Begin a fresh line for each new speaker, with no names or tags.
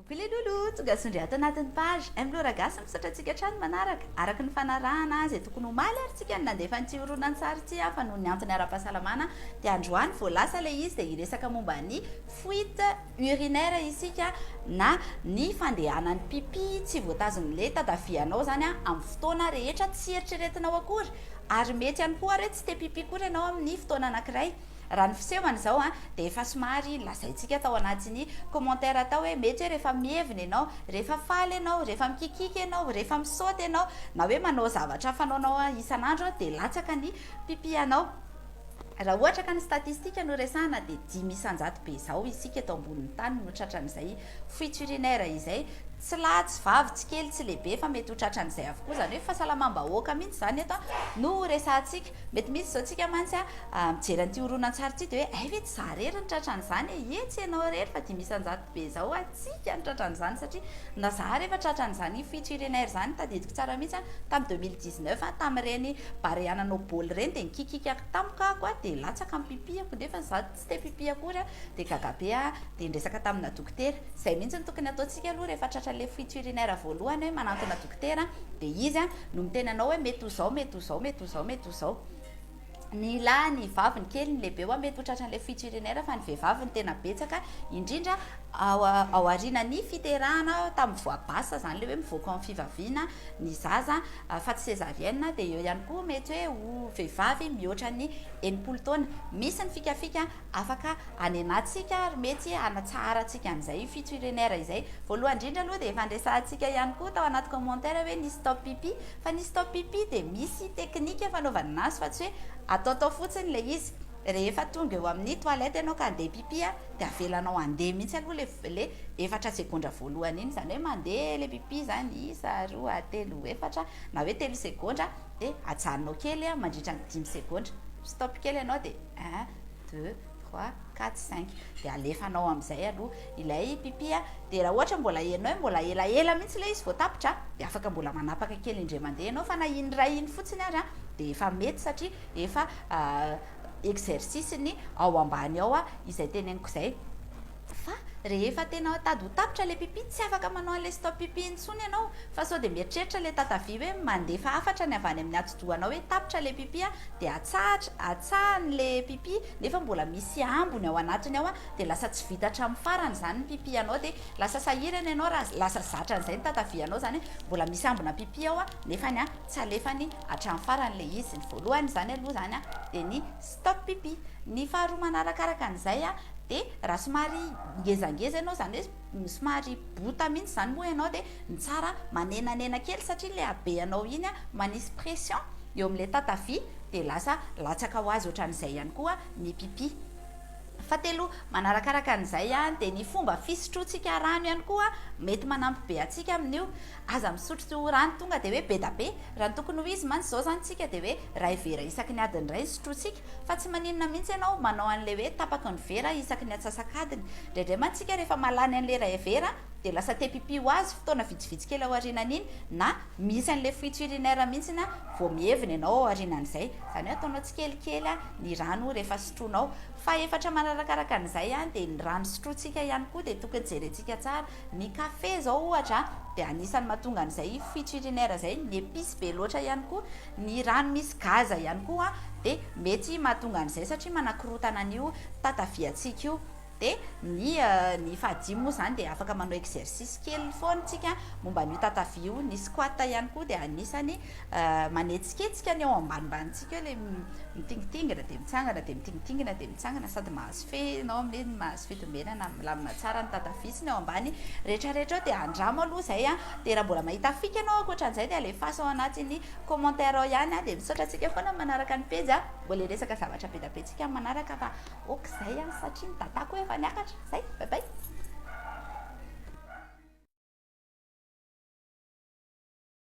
Coucou les loulous, tonga zondry ato anatin'ny page Emplora Gasy misaotra antsika hatrany manaraka, araka ny fanarahana izay tokony omaly ary tsika no nandefa an'ity horonantsary ity aho fa noho ny antony ara-pahasalamana dia androany vao lasa ilay izy dia hiresaka momba ny fuite urinaire isika na ny fandehanan'ny pipi tsy voatazonin'ilay tatavianao izany amin'ny fotoana rehetra tsy eritreretinao akory ary mety ihany koa ary hoe tsy te pipi koa ianao amin'ny fotoana anankiray Raha ny fisehony izao an, dia efa somary lazaintsika tao anatin'ny commentaire tao hoe mety hoe rehefa mihevina ianao, rehefa faly ianao, rehefa mikikiaka ianao, rehefa misaoty ianao, na hoe manao zavatra fanaonao isan'andro dia latsaka ny pipi anao. Raha ohatra ka ny statistika no resahana dia dimy isan-jato be izao isika eto ambonin'ny tany no tratran'izay fuite urinaire izay, tsy lahy tsy vavy, tsy kely tsy lehibe fa mety ho tratran'izay avokoa, izany hoe fahasalamam-bahoaka mihitsy izany eto no ho resahantsika. Mety misy izao tsika mantsy a, mijery an'ity horonantsary ity dia hoe hay ve tsy za rery nitratra an'izany e? Ie tsy ianao rery fa dimy isan-jato be izao hatsiaka nitratra an'izany satria na za ary efa tratra an'izany io fito firenena izany tadidiko tsara mihitsy a tamin'ny deux mille dix neuf a tamin'ireny barea nanao baoly ireny dia nikikika tampoka ako a dia latsaka ny pipihako nefany za Tsy te pipi akory aho dia gaga be aho dia nresaka tamina dokotera, izay mihintsy no tokony ataontsika aloha rehefa tratra ilay fuite urinaire voalohany hoe manantona dokotera dia izy no miteny anao hoe mety ho zao, mety ho zao, mety ho zao, mety ho zao ny lahy, ny vavy, ny kely, ny lehibe wa mety ho tratra an'ilay fuite urinaire fa ny vehivavy no tena betsaka indrindra ao aorinan'ny fiterahana tamin'ny voie basse izany ilay hoe mivoaka ao amin'ny fivaviana ny zaza fa tsy cesarienne dia eo ihany koa mety hoe ho vehivavy mihoatra ny enimpolo taona. Misy ny fikafika afaka anenantsika ary mety hanatsaharantsika an'izay io fito urinr izay. Voalohany indrindra aloha dia efa niresahantsika ihany koa tao anaty commentaire hoe ny stop pipi. Fa ny stop pipi dia misy teknika fanaovana anazy fa tsy hoe ataotao fotsiny ilay izy. Rehefa tonga eo amin'ny toilette ianao ka handeha pipi dia avelanao handeha mihitsy aloha ilay efatra segondra voalohany iny. Izany hoe mandeha ilay pipi izany isa, roa, telo, efatra na hoe telo segondra. Dia ajanonao kely mandritra ny dimy segondra. Stop kely ianao dia un, deux, trois, quatre, cinq. Dia alefanao amin'izay aloha ilay pipi. Dia raha ohatra mbola henonao hoe mbola elaela mihitsy ilay izy vao tapitra dia afaka mbola manapaka kely indray mandeha ianao fa na indray iny fotsiny ary dia efa mety satria efa exercice-ny ao ambany ao izay teneniko izay. Fa rehefa tena ao tady ho tapitra ilay pipi tsy afaka manao an'ilay stop pipi intsony ianao fa sao dia mieritreritra ilay tatavia hoe mandefa hafatra ny avy any amin'ny atidohanao hoe tapitra ilay pipi dia atsahatra atsahany ilay pipi nefa mbola misy ambony ao anatiny ao dia lasa tsy vita hatramin'ny farany izany ny pipi anao dia lasa sahirana ianao raha lasa zatra an'izay ny tatavianao izany hoe mbola misy ambina pipi ao nefany tsy alefany hatramin'ny farany ilay izy ny voalohany izany aloha izany dia ny Stop pipi. Ny faharoa manarakaraka an'izay dia raha somary ngezangeza ianao izany hoe somary bota mihitsy izany moa ianao dia ny tsara manenanena kely satria ilay habeanao iny manisy pression eo amin'ilay tatavia dia lasa latsaka ho azy ohatran'izay ihany koa ny pipi. Fahatelo manarakaraka an'izay dia ny fomba fisotroantsika rano ihany koa mety manampy be antsika amin'io. Aza misotro tsy ho rano tonga dia hoe bedabe, raha ny tokony ho izy mantsy izao izany tsika dia hoe ray vera isaky ny adiny iray ny sotrointsika, fa tsy maninona mihitsy ianao manao an'ilay hoe tapaky ny vera isaky ny atsasak'adiny, indraindray mantsy tsika rehefa mahalany an'ilay ray vera dia lasa te pipi ho azy fotoana vitsivitsy kely aorianan'iny na misy an'ilay fuite urinaire mihitsy na vao miheviny ianao aorianan'izay, izany hoe ataonao tsikelikely ny rano rehefa sotroinao, fahefatra manarakaraka an'izay dia ny rano sotrointsika ihany koa dia tokony jerentsika tsara, Ny kafe izao ohatra dia anisan'ny mahatonga an'izay fitch urinaire izay, ny epice be loatra ihany koa, ny rano misy gaz ihany koa dia mety mahatonga an'izay satria manakorotana an'io tataviantsika io. Dia ny ny fahadimy moa izany dia afaka manao exercice kely foana isika momba an'io tatavia io, ny squat ihany koa dia anisan'ny manetsiketsika ny ao ambanimbany tsika eo ilay mitingitingina dia mitsangana dia mitingitingina dia Mitsangana sady mahazo fe ianao amin'iny ny mahazo fitombenana milamina tsara ny tata vitsy ny ao ambany retraretra ao dia andramo aloha izay a dia raha mbola mahita fika ianao ankoatran'izay dia alefaso ao anatin'ny commentaire ao ihany a dia misaotra antsika foana ny manaraka ny pejy a mbola hiresaka zavatra be da be tsika amin'ny manaraka fa ok izay a satria ny datako efa niakatra izay bye bye